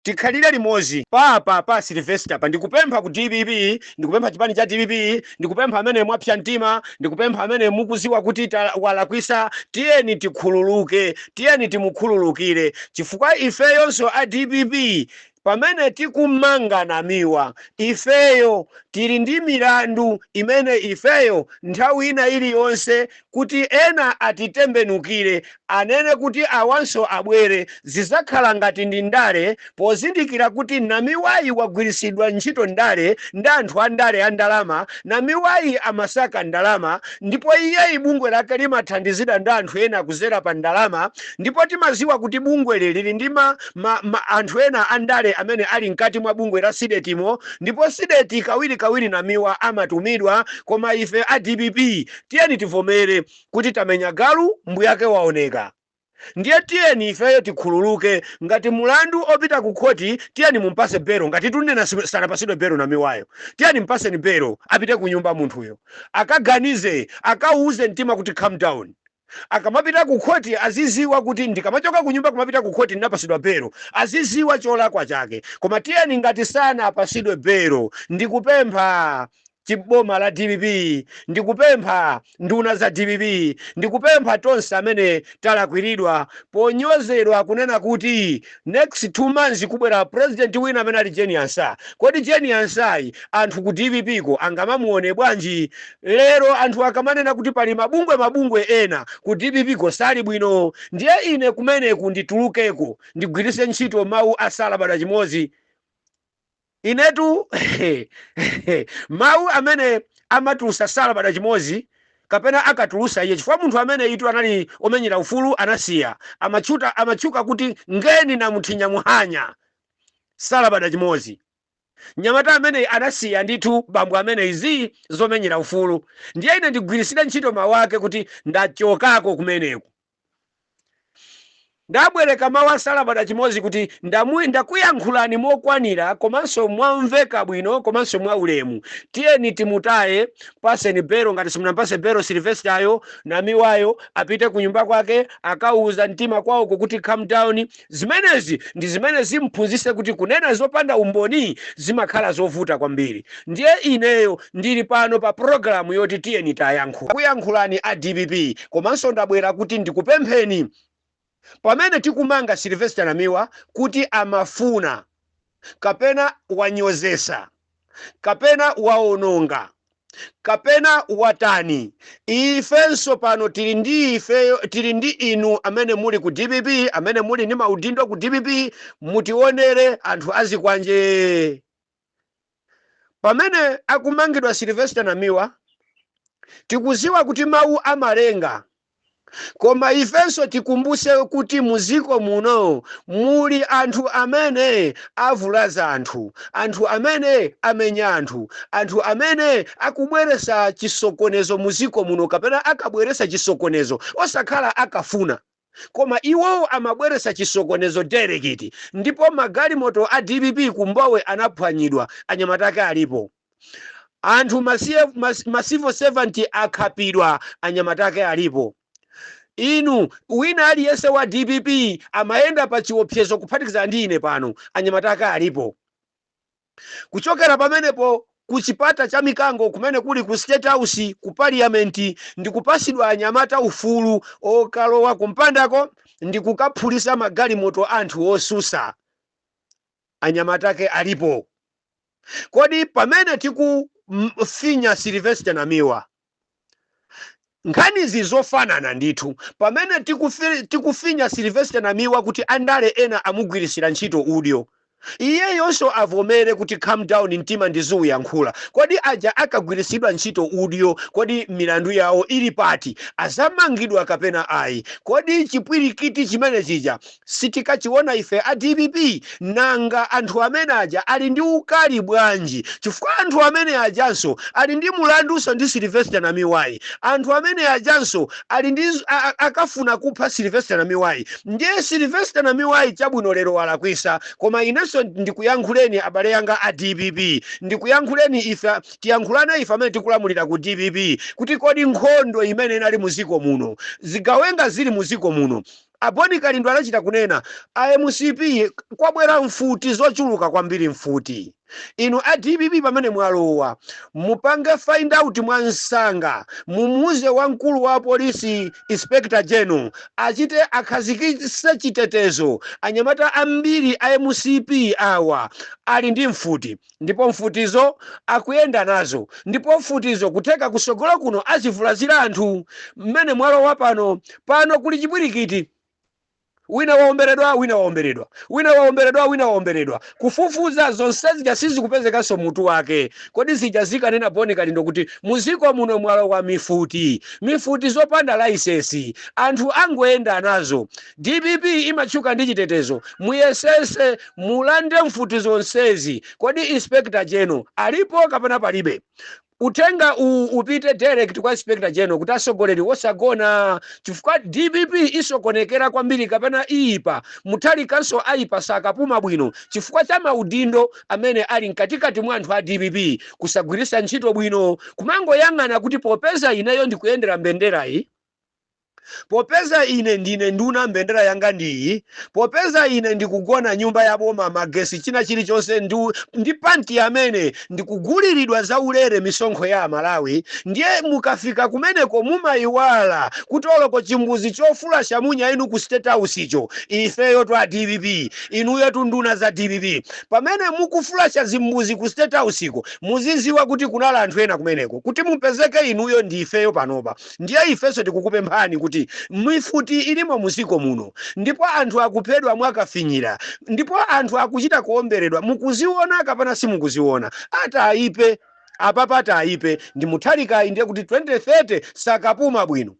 Tikhalire limodzi pa apa pa Sylvester pa ndikupempha ku dpp ndikupempha chipani cha dpp ndikupempha amene mwapsa mtima ndikupempha amene mukuziwa kuti walakwisa tiyeni tikhululuke tiyeni timukhululukire chifukwa ifeyonso a dpp pamene tikumanga namiwa ifeyo tili ndi milandu imene ifeyo nthawi ina iliyonse kuti ena atitembenukire anene kuti awanso abwere zizakhala ngati ndi ndale pozindikira kuti namiwayi wagwirisidwa ntchito ndale ndi anthu andale andalama namiwayi amasaka ndalama ndipo iyeyi bungwe lake limathandizidwa ndi anthu ena kuzera pa ndalama ndipo timaziwa kuti bungweli lili ndi ma ma ma anthu ena andale amene ali mkati mwa bungwe la CDEDI mo ndipo CDEDI kawiri kawiri namiwa amatumidwa koma ife a dpp Tiyeni tivomere kuti tamenya galu mbuyake waoneka. Ndiye tiyeni ifeyo tikhululuke ngati mulandu opita ku khoti tiyeni mumpase belo ngatitu ndinena sanapasidwe belo namiwayo tiyeni mpaseni belo apite kunyumba munthuyo akaganize akauuze mtima kuti calm down akamapita ku khoti aziziwa kuti ndikamachoka kunyumba kumapita ku khoti nnapasidwa belo aziziwa cholakwa chake koma tiyeni ngati sanapasidwe belo ndikupempha Chi boma la dpp ndikupempha nduna za dpp ndikupempha tonse amene talakwiridwa ponyozedwa kunena kuti next 2 months kubwera president wina amene ali Jane Ansah kodi Jane Ansah yi anthu ku dpp ko angamamuone bwanji lero anthu akamanena kuti pali mabungwe mabungwe ena ku dpp ko sali bwino ndiye ine kumeneku nditulukeko ndigwiritse ntchito mawu a Salamba da chimodzi Inetu mawu amene amatulusa Salamba da chimozi kapena akatulusa iye chifukwa munthu ameneyitu anali omenyera ufulu anasiya amatchuta amatchuka kuti ngeni namuthinya muhanya Salamba da chimozi nyamata ameneyi anasiya ndithu bambo amene izi zomenyera ufulu ndiye ine ndigwirisire ntchito mawu ake kuti ndachokako kumeneku Ndabwereka mawu a Salamba da chimodzi kuti ndamu, ndakuyankhulani mokwanira komanso mwamveka bwino komanso mwaulemu. Tiyeni timutaye, mpatseni belo ngati simunampatse belo Sylvester yo, Namiwayo apite kunyumba kwake akauza mtima kwaoko kuti calm down Zimenezi ndi zimene zim'phunzitse kuti kunena zopanda umboni zimakhala zovuta kwambiri. Ndiye ineyo ndili pano pa pulogalamu yoti Tiyeni Tayankhula. Kuyankhulani a dpp komanso ndabwera kuti ndikupempheni pamene tikumanga Sylvester Namiwa kuti amafuna kapena wanyozesa, kapena wawononga, kapena watani, ifenso pano tili ndi ifeyo tili ndi inu amene muli ku dpp, amene muli ndi maudindo ku dpp, mutionere anthu azikwanje. Pamene akumangidwa Sylvester Namiwa, tikuziwa kuti mawu amalenga. Koma ifenso tikumbuse kuti muziko muno muli anthu amene avulaza anthu, anthu amene amenya anthu, anthu amene akubweresa chisokonezo muziko muno kapena akabweresa chisokonezo osakhala akafuna koma iwo amabweresa chisokonezo dairekiti ndipo magalimoto a dpp ku Mbowe anaphwanyidwa anyamata ake alipo. anthu ma civil servant akhapidwa anyamata ake alipo inu wina aliyense wa dpp amayenda pa chiopsezo kuphatikiza ndi ine pano anyamata ake alipo kuchokera pamenepo ku chipata cha mikango kumene kuli ku state house ku parliament ndi kupasidwa anyamata ufulu okalowa kumpandako ndi kukaphulisa magalimoto a anthu osusa anyamata ake alipo Kodi pamene tikufinya Sylvester Namiwa nkhanizi zofanana ndithu pamene tikufinya Sylvester Namiwa kuti andale ena amugwirisira ntchito udyo iyeyonso avomere kuti calm down mtima ndizoyankhula kodi aja akagwirisidwa ntchito udyo kodi milandu yawo ili pati azamangidwa kapena ayi kodi chipwirikiti chimene chija sitikachiona ife a dpp nanga anthu amene aja ali ndi ukali bwanji chifukwa anthu amene ajanso ali ndi mulanduso ndi Sylvester Namiwayi anthu amene ajanso ali ndi a, a, akafuna kupha Sylvester Namiwayi ndiye Sylvester Namiwayi chabwino lero walakwisa koma inenso ndikuyankhuleni abale yanga a dpp ndikuyankhuleni ife tiyankhulana ife amene tikulamulira ku dpp kuti kodi nkhondo imene inali muziko muno zigawenga zili muziko muno A Boni Kalindo anachita kunena, a mcp kwabwera mfuti zochuluka kwambiri mfuti. Inu a dpp pamene mwalowa mupange find out mwansanga mumuuze wamkulu wa polisi Inspector General achite akhazikise chitetezo anyamata ambiri a mcp awa ali ndi mfuti. Ndipo mfutizo akuyenda nazo, ndipo mfutizo kutheka kusogolo kuno azivulazira anthu, mmene mwalowa pano. Pano kuli chipwirikiti. Wina waomberedwa, wina waomberedwa, wina waomberedwa, wina waomberedwa. Kufufuza, zonse zija sizikupezekanso mutu wake. Kodi zija akanena Boni Kalindo kuti, muziko muno mwalowa mifuti. Mifuti zopanda layisensi. Anthu angoyenda nazo. Dpp imatchuka ndi chitetezo muyesese mulande mfuti zonsezi kodi inspector general alipo kapena palibe? Uthenga upite direct kwa inspector general kuti asogoleri wosagona chifukwa dpp isokonekera kwambiri kapena iyipa Mutharikanso ayipa sakapuma bwino chifukwa cha maudindo amene ali mkatikati mwa anthu a dpp kusagwirisa ntchito bwino kumangoyang'ana kuti popeza ineyo ndikuyendera mbenderayi Popeza ine ndine nduna, mbendera yanga ndi iyi, popeza ine ndikugona nyumba ya boma, magesi, china chirichonse, ndi panti amene ndikuguliridwa zaulere misonkho ya Amalawi, ndiye mukafika kumeneko mumaiwala kuti oloko chimbuzi choflasha munya inu ku State House-cho, ifeyotu a dpp, inuyotu nduna za dpp, pamene mukuflasha zimbuzi ku State House-ko, muziziwa kuti kunala anthu ena kumeneko, kuti mupezeke inuyo ndi ifeyo panopa. Ndiye ifenso tikukupemphani kuti mifuti ilimo muziko muno, ndipo anthu akuphedwa mwakafinyira, ndipo anthu akuchita kuomberedwa, mukuziona kapena simukuziona? Atayipe! Apapa tayipe ndi Mutharikayi ndiye kuti 2030 sakapuma bwino.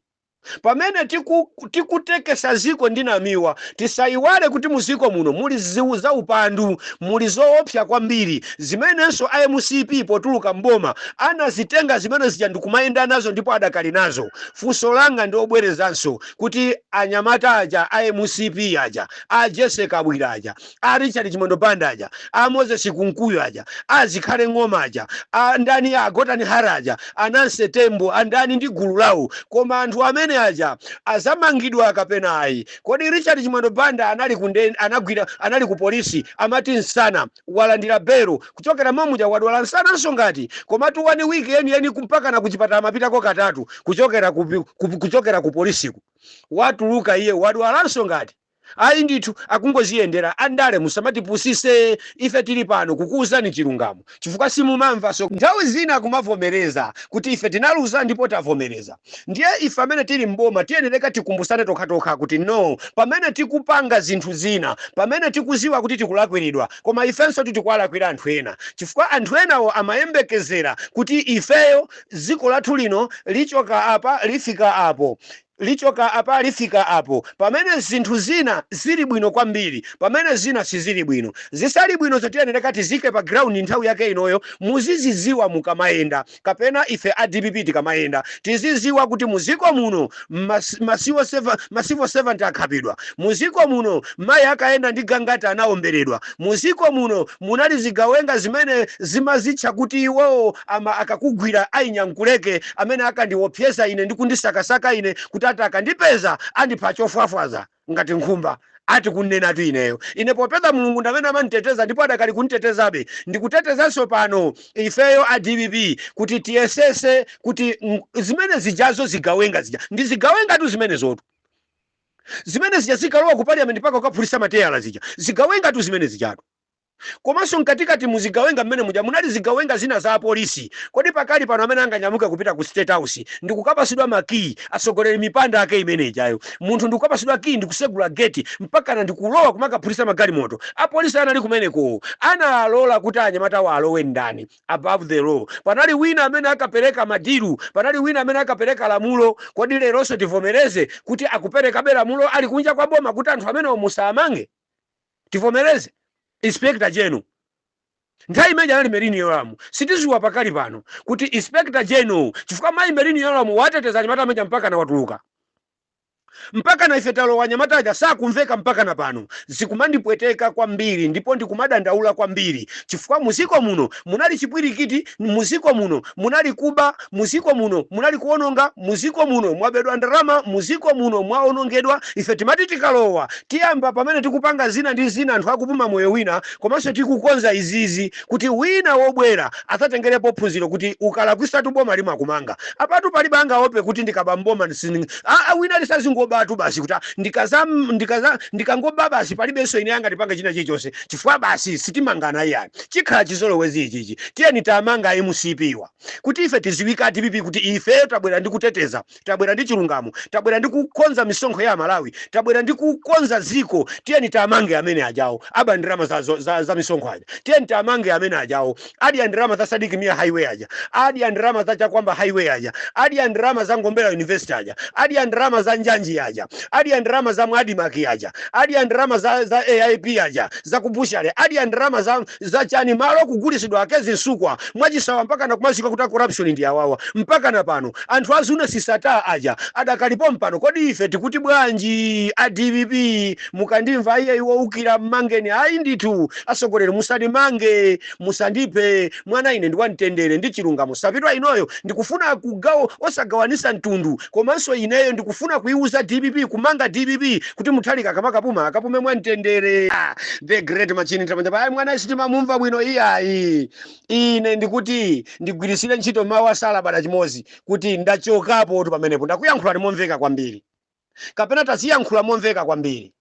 Pamene tiku. tikutekesa ziko ndi namiwa tisayiwale kuti muziko muno muli zaupandu muli zoopsa kwambiri zimenenso a mcp potuluka m'boma anazitenga zimene zija ndikumayenda nazo ndipo adakali nazo funso langa ndibwerezanso kuti anyamata aja a mcp aja a jessy kabwila aja a Richard Chimwendo Banda aja, a Moses Kunkuyu aja, a Zikhale Ng'oma aja, a ndani a Gotani Hara aja, a Nancy Tembo, a ndani ndi gulu lawo. Koma anthu amene aja azamangidwa kapena ayi? Kodi Richard Chimwendo Banda anali kunde anagwira anali ku polisi amati nsana walandira belo kuchokera momuja wadwala nsananso ngati komatu one week yeniyeni kumpakana ku chipatala amapitako katatu kuchokera ku, ku, kuchokera ku polisiku watuluka iye wadwalanso ngati Ayi ndithu akungoziyendera andale musamatipusise ife tili pano kukuuzani chilungamo chifukwa simumamva so nthawi zina kumavomereza kuti ife tinaluza ndipo tavomereza ndiye ife amene tili m'boma tiyenereka tikumbusane tokhatokha kuti no pamene tikupanga zinthu zina pamene tikuziwa kuti tikulakwiridwa koma ifensotu tikuwalakwira anthu ena chifukwa anthu enawo amayembekezera kuti ifeyo ziko lathu lino lichoka apa lifika apo Lichoka apa lifika apo. Pamene zinthu zina zili bwino kwambiri, pamene zina sizili bwino. Zisali bwinozo tiyenereka tiziike pa ground nthawi yake inoyo, muziziziwa mukamayenda, kapena ife a dpp tikamayenda, tiziziwa kuti muziko muno ma civil servant akhapidwa, muziko muno mayi akayenda ndi Gangata anaomberedwa, muziko muno. munali zigawenga zimene zimazitcha kuti iwowo ama akakugwira a Nyankuleke amene akandiwopseza ine ndi kundisakasaka ine kuti ati akandipeza andipha chofwafwaza ngati nkhumba ati kunenatu ineyo ine popeza mulungu ndamene amanditeteza ndipo adakali kuntetezabe ndikutetezanso pano ifeyo a dpp kuti tiyesese kuti mm, zimene zijazo zigawenga zija ndi zigawengatu zimenezotu Zimene zija zikalowa ku parliament mpaka kukaphulisa ma teyala zija. Zigawenga tu zimene zijatu. Komanso mkatikati mu zigawenga mmene muja munali zigawenga zina za apolisi. Kodi pakali pano amene anganyamuke kupita ku state house ndikukapasidwa ma key atsogoleri mipanda ake imene ijayo. Munthu ndikukapasidwa key ndikusegula gate mpakana ndikulowa kumakaphulisa magalimoto. Apolisi anali kumeneko analola kuti anyamatawa alowe ndani? above the law panali wina amene akapereka madilu panali wina amene akapereka lamulo kodi leronso tivomereze kuti akuperekabe lamulo ali kunja kwa boma kuti anthu amenewo musawamange tivomereze inspector general nthawi imene ija anali merini yoramu sitiziwa pakali pano kuti inspector general chifukwa mayi merini yoramu wateteza anyamata amene mpaka anawatuluka Mpakana ife talowa anyamata aja sakumveka mpakana pano. Zikumandipweteka kwambiri ndipo ndikumadandaula kwambiri chifukwa mu dziko muno munali chipwirikiti, mu dziko muno munali kuba, mu dziko muno munali kuononga, mu dziko muno mwabedwa ndalama, mu dziko muno mwaonongedwa. Ife timati tikalowa tiyamba pamene tikupanga zina ndi zina anthu akupuma moyo wina komanso tikukonza izizi kuti wina wobwera azatengerepo phunziro kuti ukalakwisatu boma limakumanga apatu palibe angaope kuti ndikaba mboma ndisinding aa wina lisazingobatu basi kuti "Ah, ndikaza ndikaza ndikangoba basi palibenso yemwe angandipange china chilichonse chifukwa basi sitimangana iyayi chikhala chizolowezi ichichi tiyeni tamanga a mcp wa kuti ife tiziwika dpp kuti ifeyo tabwera ndi kuteteza tabwera ndi chilungamo tabwera ndi kukonza misonkho ya amalawi tabwera ndi kukonza ziko tiyeni tamange amene ajawo aba ndalama za, za, za, za misonkho aja tiyeni tamange amene ajawo adya ndalama za sadiki mia highway aja adya ndalama za chakwamba highway aja adya ndalama za mombera university aja adya ndalama za njanji aja adya ndalama za mwadimaki aja adya ndalama za, za aip aja za kubushale adya ndalama za zachani malo kugulisidwa a kezzie msukwa mwachisawawa mpakana kumaziwika kuti a corruption ndi awawa mpakana pano anthu a zuneth sattar aja adakali pompano kodi ife tikuti bwanji a dpp mukandimva ai iye woukira mmangeni ayi ndithu asogoleri musandimange musandiphe mwana ine ndi wamtendere ndi chilungamo savitwa inoyo ndikufuna kugawo osagawanisa mtundu Komanso ineyo ndikufuna kuiuza dpp kumanga dpp kuti Mutharika akamakapuma akapume mwamtendere. Ah, the great machine Ntamanja pa ayi mwanayu sitimamumva bwino iyayi. Ine ndikuti ndigwiritsire ntchito mawu a Salabada chimodzi kuti ndachokapotu pamenepo. Ndakuyankhulani momveka kwambiri kapena taziyankhula momveka kwambiri.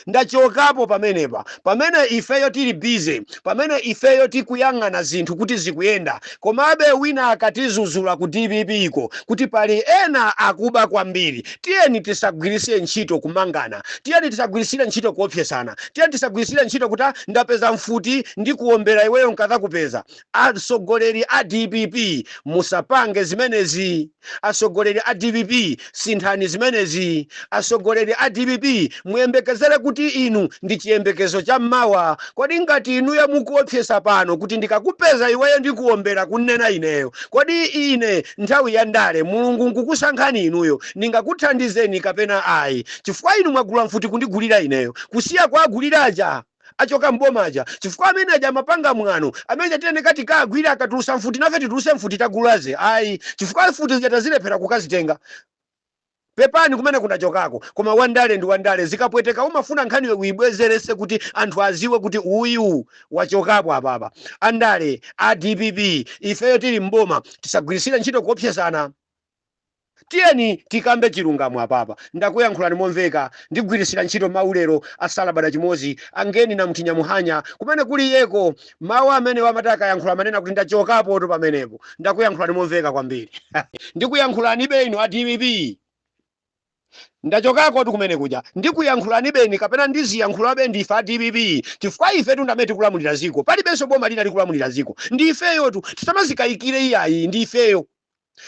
Ndachokapo pamenepa, pamene ifeyo tiri busy, pamene ifeyo tikuyang'ana zinthu kuti zikuyenda, komabe wina akatizuzula ku dpp ko kuti pali ena akuba kwambiri, tiyeni tisagwiritsire ntchito kumangana, tiyeni tisagwiritsire ntchito kuopsesana, tiyeni tisagwiritsire ntchito kuti a ndapeza mfuti ndikuombera iweyo nkadzakupeza. Atsogoleri a dpp musapange zimenezi. Atsogoleri a dpp sinthani zimenezi. Atsogoleri a dpp muyembekezere kuti inu ndi chiyembekezo cha mmawa. Kodi ngati inuyo mukuopsesa pano kuti ndikakupeza iweyo ndikuombera kunena ineyo. Kodi ine nthawi ya ndale Mulungu nkukusankhani inuyo ndingakuthandizeni kapena ayi. Chifukwa inu mwagula mfuti kundigulira ineyo kusiya kuwagulira aja. achoka m'boma aja chifukwa amene aja amapanga mwano amene aja tiyeni tikawagwire akatulusa mfuti nafe tituluse mfuti tagulazi ayi chifukwa mfuti zija tazilephera kukazitenga pepani kumeneko ndachokako koma wandale ndi wandale zikapweteka umafuna nkhaniyo uibwereze kuti anthu aziwe kuti uyu wachokapo apapa andale a dpp ifeyo tili m'boma tisagwirisire ntchito kuopsesana Tiyeni tikambe chilungamo apapa. Ndakuyankhulani momveka. Ndigwiritsira ntchito mawu lero a salabada chimodzi, a Ngeni Namthu Nyamuhanya, kumene kuli iyeko. Mawu amenewo amati akayankhula amanena kuti ndachokapotu pamenepo. Ndakuyankhulani momveka kwambiri. Ndikuyankhulanibe inu a dpp. Ndachokakotu kumene kuja ndikuyankhulanibeni kapena ndiziyankhulabe ndife a dpp chifukwa ifetu ndi amene tikulamulira dziko palibenso boma lina likulamulira dziko ndi ifeyotu tisamazikayikire iyayi ndi ifeyo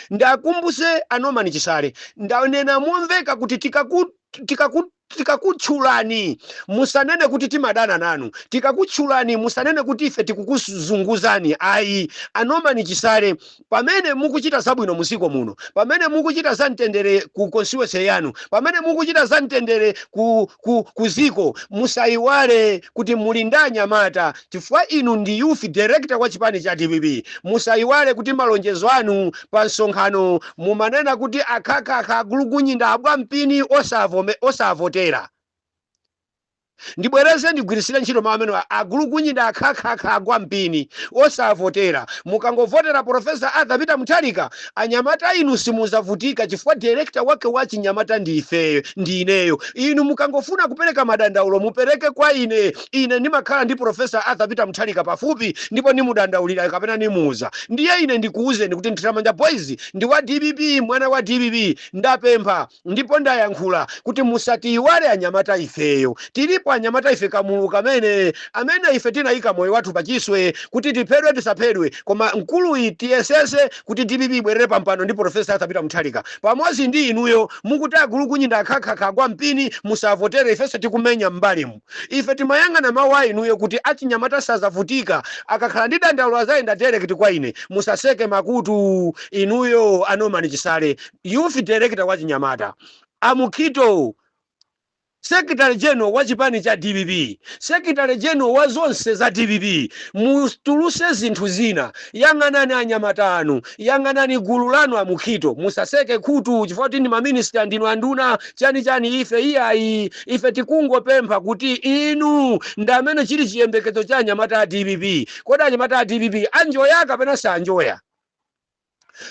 ndakumbuse a Norman Chisale ndanena momveka kuti tikaku tikaku tikakutchulani musanene kuti timadana nanu tikakutchulani musanene kuti ife tikukuzunguzani ayi a Norman Chisale Pamene mukuchita zabwino mu dziko muno, pamene mukuchita za mtendere ku constituency yanu, pamene mukuchita za mtendere ku, ku, ku dziko, musaiwale kuti muli ndi anyamata chifukwa inu ndi youth director wa chipani cha dpp. Musaiwale kuti malonjezo anu pa msonkhano mumanena kuti akhakhakha agulugunyi ndi agwa mpini osavome, osavotera. Ndibwereze ndigwiritsire ntchito mawu amenewa, agulugunyi ndi akhakhakha agwa mpini osavotera. Mukangovotera Prof. Arthur Peter Mutharika, anyamata inu simuzavutika chifukwa director wake wa achinyamata ndi ifeyo, ndi ineyo. Inu mukangofuna kupereka madandaulo mupereke kwa ine, ine ndimakhala ndi Prof. Arthur Peter Mutharika pafupi ndipo ndimudandaulira kapena ndimuuza. Ndiye ine ndikuuzeni kuti Mthiramanja Boys ndi wa dpp, mwana wa dpp. Ndapempha. ndipo ndayankhula kuti musatiyiwale anyamata ifeyo tilipo anyamata ife kamulu kamene amene ife tinayika moyo wathu pachiswe kuti tiphedwe tisaphedwe koma mkuluyi tiyesese kuti dpp ibwerere pampando ndi professor arthur peter mutharika pamodzi ndi inuyo mukuti agulukunyinda akhakhakha agwa mpini musavotere ifenso tikumenya m'mbalimu ife timayang'ana mawu a inuyo kuti achinyamata sazavutika akakhala ndi dandaulo azayenda direct kwa ine musaseke makutu inuyo a norman chisale Youth Director wa chinyamata, a Mukhito, Secretary General wa chipani cha dpp, Secretary General wa zonse za dpp, mutuluse zinthu zina, yang'anani anyamata anu, yang'anani gulu lanu a Mukhito, musaseke khutu chifukwa choti ndi ma minister, ndinu anduna, chani chani, ife iyayi, ife tikungopempha kuti inu ndi amene chili chiyembekezo cha anyamata a dpp. Kodi anyamata a dpp anjoya kapena sanjoya?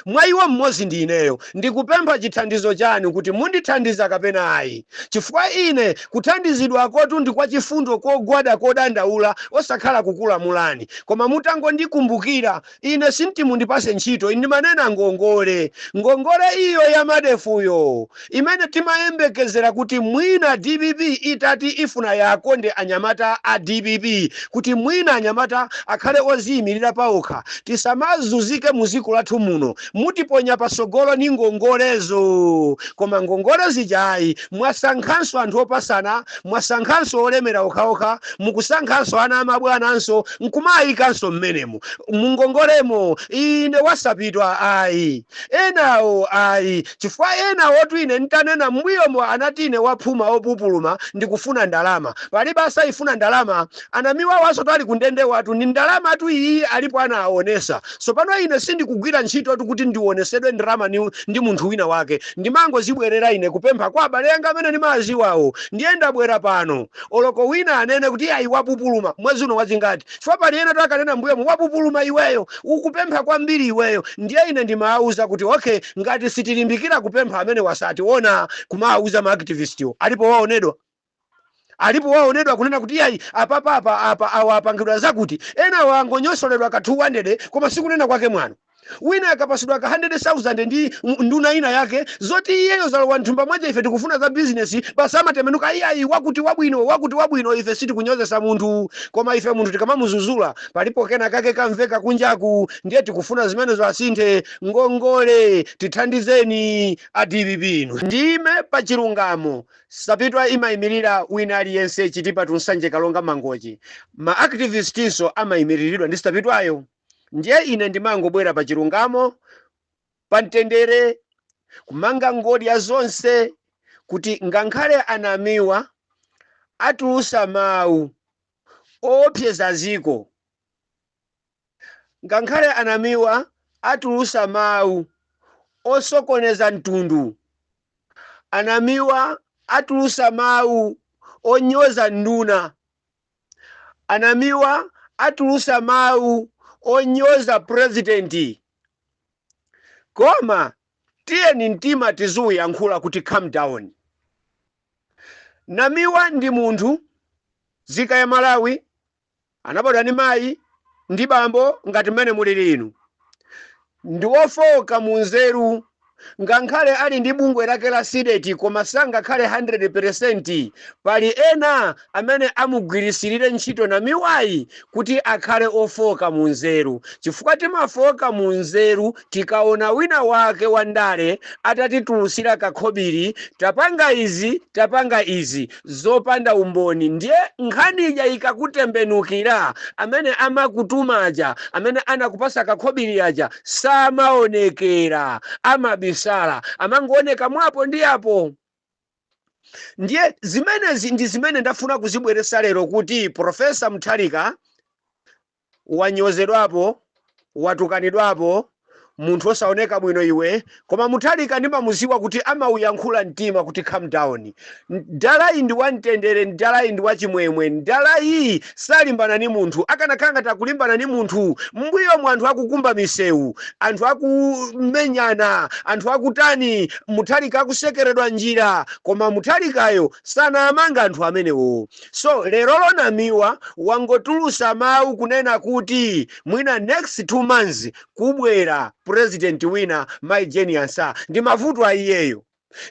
mwa iwo mmodzi ndi ineyo, ndikupempha chithandizo chanu kuti mundithandiza kapena ayi, chifukwa ine kuthandizidwakotu ndi kwa chifundo kogwada kodandaula osakhala kukulamulani, koma mutangondikumbukira ine sinditi mundipase ntchito ine ndimanena ngongole, ngongole iyo ya MEDEF-yo imene timayembekezera kuti mwina dpp itati ifuna iwakonde anyamata a dpp kuti mwina anyamata akhale oziimilira paokha tisamazuzike muziko lathu muno mutiponya pasogolo ni ngongolezo koma ngongole zija ayi mwasankhanso anthu opasana mwasankhanso olemera okhaokha mukusankhanso ana amabwananso nkumaayikanso mmenemo mungongolemo ine wasapitwa ayi enawo ayi Chifukwa enawotu ine n'tanena m'mbuyomo anati ine waphuma opupuluma ndikufuna ndalama. Palibe asaifuna ndalama. Anamiwawaso anali kundendewatu ni ndalamatu iyiyi alipo anaaonesa. Sopano ine sindikugwira ntchitotu kuti ndionesedwe ndrama ndi munthu wina wake. Ndimangozibwerera ine kupempha kwa abale anga amene nimawaziwawo. Ndiye ndabwera pano. Oloko wina anene kuti iyayi wapupuluma. Mwezi uno wazingati? chifukwa pali ena oti akanena mmbuyomo, Wapupuluma iweyo! Ukupempha kwambiri iweyo! Ndiye ine ndimawauza kuti, Ok, ngati sitilimbikira kupempha amenewa sationa, kumawauza ma activistwo. Alipo waonedwa? Alipo waonedwa kunena kuti, Iyayi, apapa awa apangidwa zakuti. Enawo angonyotsoledwa ka 200 koma si kunena kwake mwano. Wina akapasidwa ka 100,000 ndi nduna ina yake zoti iyeyo zalowa mthumba mwache ife tikufuna za business basi amatembenuka iyayi wakuti wabwino wakuti wabwino ife sitikunyozesa munthu koma ife munthu tikamamuzuzula palipo kena kake kamveka kunjaku ndiye tikufuna zimenezo asinthe ngongole tithandizeni a dpp inu ndiime pa chilungamo Sapitwa imaimilira wina aliyense Chitipa to Nsanje Karonga Mangochi ma activistinso amaimiliridwa ndi Sapitwayo. Ndiye ine ndimangobwera pa chilungamo, pa mtendere, kumanga ngodya zonse, kuti ngankhale anamiwa atulusa mawu owopseza ziko, ngankhale anamiwa atulusa mawu osokoneza mtundu, anamiwa atulusa mawu onyoza nduna, Anamiwa atulusa mawu onyoza president koma tiyeni mtima tiziuyankhula kuti calm down. Namiwa ndi munthu zika ya Malawi anabadwa ndi mayi ndi bambo ngati mmene mulili inu. ndi wofooka mu nzeru ngankhale ali ndi bungwe lake la CDEDI koma sangakhale 100 peresenti pali ena amene amugwirisirire ntchito Namiwayi kuti akhale ofooka mu nzeru chifukwa timafooka mu nzeru tikaona wina wake wa ndale atatitulusira kakhobiri tapanga izi tapanga izi zopanda umboni ndiye nkhani ija ikakutembenukira amene amakutuma aja amene anakupasa kakhobiri aja samaonekera amabisala amangooneka mwapo ndi apo ndiye zimenezi ndi zimene ndafuna kuzibweresa lero kuti Profesa Mutharika wanyozedwapo watukanidwapo munthu osaoneka bwino iwe koma Mutharika ndimamuziwa kuti amauyankhula mtima kuti calm down mdalayi ndi wamtendere mdalayi ndi wachimwemwe mdalayi salimbana ni munthu akanakhala ngati akulimbana ni munthu m'mbuyomu anthu akukumba misewu anthu akumenyana anthu akutani Mutharika akusekeredwa njira koma Mutharikayo sanaamanga anthu amenewo so lerolo Namiwa wangotulusa mawu kunena kuti mwina next 2 months kubwera president wina mai Jane Ansah ndi mavuto a iyeyo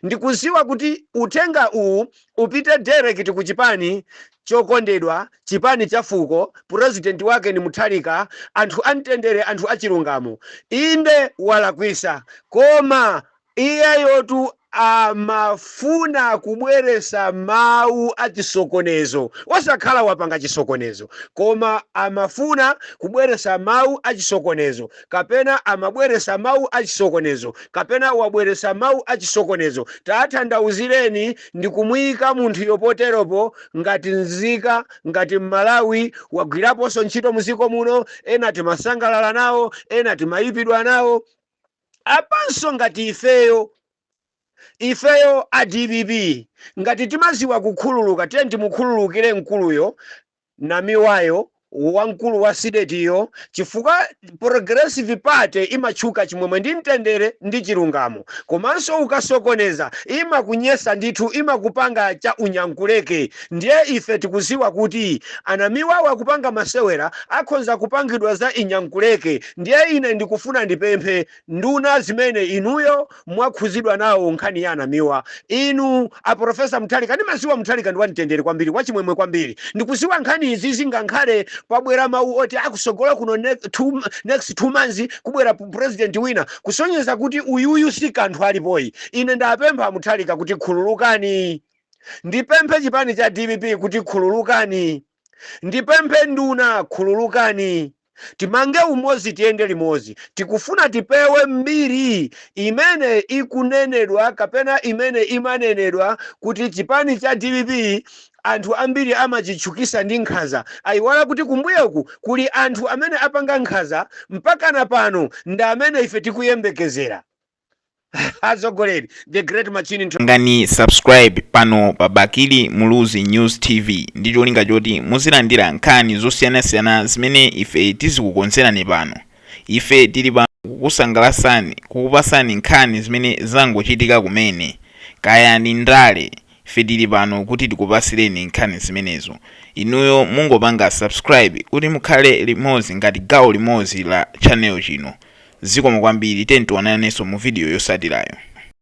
ndikuziwa kuti uthenga uwu upite direct ku chipani chokondedwa chipani cha fuko president wake ni Mutharika anthu amtendere anthu achilungamo inde walakwisa koma Iyeyotu amafuna kubweresa mau achisokonezo osakhala wapanga chisokonezo koma amafuna kubweresa mau achisokonezo kapena amabweresa mau achisokonezo kapena wabweresa mau achisokonezo tathandauzireni ndi kumuyika munthuyo poteropo ngati nzika ngati Mmalawi wagwiraponso ntchito muziko muno ena timasangalala nawo ena timayipidwa nawo apanso ngati ifeyo ifeyo a dpp ngati timaziwa kukhululuka tiyeni timukhululukire mkuluyo namiwa yo wamkulu wa sidetiyo chifukwa progressive party imatchuka chimwemwe ndi mtendere ndi chilungamo komanso ukasokoneza imakunyesa ndithu imakupanga cha unyankuleke ndiye ife tikuziwa kuti anamiwawo akupanga masewera akhonza kupangidwa za inyankuleke Ndiye ine ndikufuna ndipemphe, nduna zimene inuyo mwakhuzidwa nawo nkhani ya a Namiwa, inu a Prof. Mutharika, ndimaziwa Mutharika ndi wa mtendere kwambiri, wa chimwemwe kwambiri, ndikuziwa nkhani izi zingankhale pabwera mau oti akusogolo kuno next 2 months kubwera president wina kusonyeza kuti uyuyu sikanthu alipoyi, ine ndapempha Mutharika kuti khululukani, ndipemphe chipani cha dpp kuti khululukani. Ndipemphe nduna khululukani timange umozi tiyende limozi tikufuna tipewe mbiri imene ikunenedwa kapena imene imanenedwa kuti chipani cha dpp anthu ambiri amachitchukisa ndi nkhaza ayiwala kuti kumbuyoku kuli anthu amene apanga nkhaza mpaka na pano ndamene ife tikuyembekezera atsogoleri the great machine pangani subscribe pano pa bakili muluzi news tv ndi cholinga choti muzilandira nkhani zosiyanasiyana zimene ife tizikukonzerani pano ife tili pano kukusangalasani kukupasani nkhani zimene zangochitika kumene kaya ni ndale Ife tili pano kuti tikupasileni nkhani zimenezo. Inuyo mungopanga subscribe kuti mukhale limodzi ngati gawo limodzi la channel chino. Zikomo kwambiri, tiyeni tionanenso mu video yosatilayo.